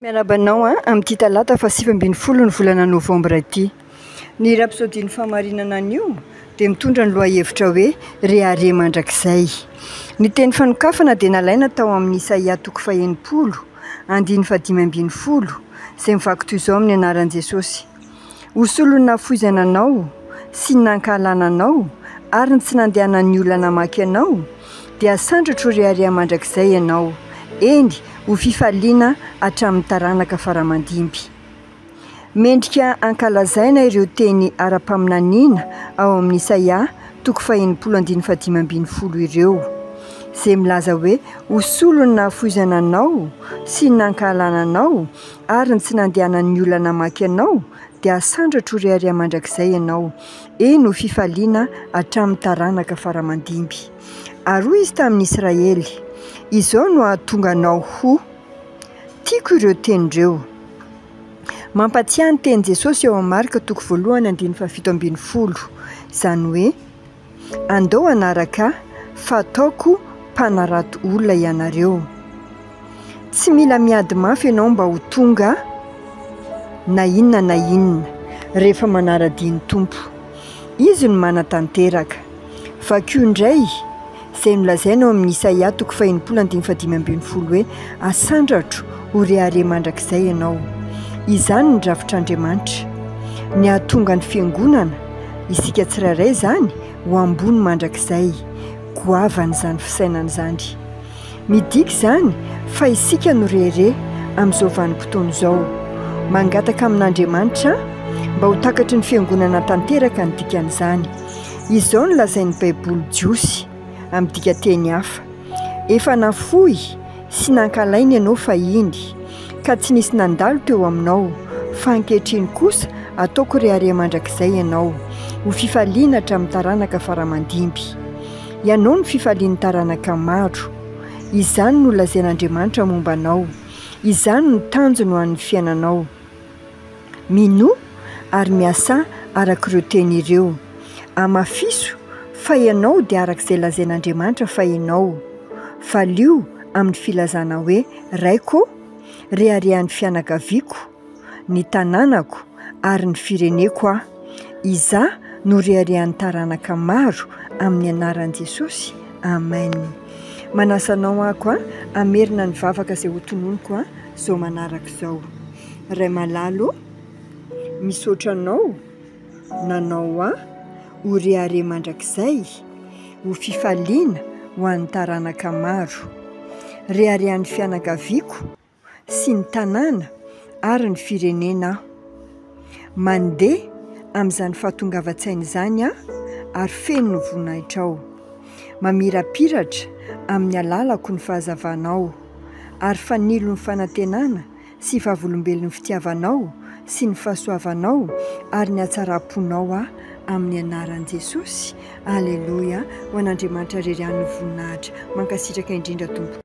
Miarahaba anao amin'ity talata faha sivy ambin'ny folo ny volana novambra ity. Ny rapsodian'ny fahamarinana anio dia mitondra ny lohahevitra hoe Rehareha mandrakizay. Ny teny fanokafana dia nalaina tao amin'ny Isaia toko fahenimpolo, andininy fahadimy ambin'ny folo, izay mivaky toy izao amin'ny anaran'i Jesosy. Ho solon'ny nahafoizana anao sy ny nankahalana anao ary ny tsy nandehanan'ny olona namaky anao, dia sandratro rehareha mandrakizay ianao, eny, ho fifaliana hatramin'ny taranaka faramandimby. Mendrika hankalazaina ireo teny ara-paminaniana ao amin'ny Isaia toko fahenimpolo andininy fahadimy ambin'ny folo ireo, izay milaza hoe, Ho solon'ny nahafoizana anao sy ny nankahalana anao Ary ny tsy nandehanan'ny olona namaky anao, dia hasandratro ry Aria mandrakizay ianao, eny ho fifaliana hatramin'ny taranaka fara-mandimby. Ary hoy izy tamin'i Israely, Izao no hahatonga anao ho. Tiako ireo teny ireo. Mampatsiahy ny tenin'i Jesosy ao amin'ny Marka toko voalohany andininy fahafito ambin'ny folo, izany hoe. Andao hanaraka ahy fa ataoko mpanarato olona ianareo. Tsy mila miady mafy ianao mba ho tonga na inona na inona rehefa manara-dia ny Tompo. Izy no manatanteraka. Vakio indray izay nolazainy ao amin'ny Isaia toko fahenimpolo andininy fahadimy ambin'ny folo hoe, Asandratro ho rehareha mandrakizay ianao. Izany ny drafitr'Andriamanitra, ny hahatonga ny Fiangonana Isika tsirairay izany ho ambony mandrakizay, goavan'izany fisainana izany. Midika izany fa isika no reherehe amin'izao vanim-potoana izao. Mangataka amin'Andriamanitra mba ho takatry ny Fiangonana tanteraka ny dikan'izany. Izao no lazain'ny Baiboly jiosy. amin'ny dikanteny hafa. Efa nafoy sy nankalaina ianao fahiny, ka tsy nisy nandalo teo aminao, fa ankehitriny kosa ataoko rehareha mandrakizay ianao, ho fifaliana hatramin'ny taranaka fara-mandimby. Ianao no fifalian'ny taranaka maro. Izany no lazain'Andriamanitra momba anao. Izany no tanjony ho an'ny fiainanao. Minoa ary miasà arak'ireo teny ireo. Amafiso fa ianao dia arak'izay lazain'Andriamanitra fa ianao. Valio amin'ny filazana hoe, Raiko ô, reharehan'ny fianakaviako, ny tanànako ary ny fireneko aho. Izaho no reharehan'ny taranaka maro amin'ny anaran'i Jesosy. Amen. Manasa anao aho koa hamerina ny vavaka izay hotononiko. izao manaraka izao. Ray malala ô, misaotra anao nanao ahy ho rehareha mandrakizay, ho fifaliana ho an'ny taranaka maro. Reharehan'ny fianakaviako sy ny tanàna ary ny firenena aho. Mandeha amin'izany fahatongavan-tsaina izany aho ary feno ny voninahitrao. Mamirapiratra amin'ny alalako ny fahazavanao, ary fanilo ny fanantenana sy vavolombelon'ny fitiavanao sy ny fahasoavanao ary ny hatsaram-ponao aho amin'ny anaran'i Jesosy. Aleloia, ho an'Andriamanitra irery ihany ny voninahitra. Mankasitraka indrindra tompoko.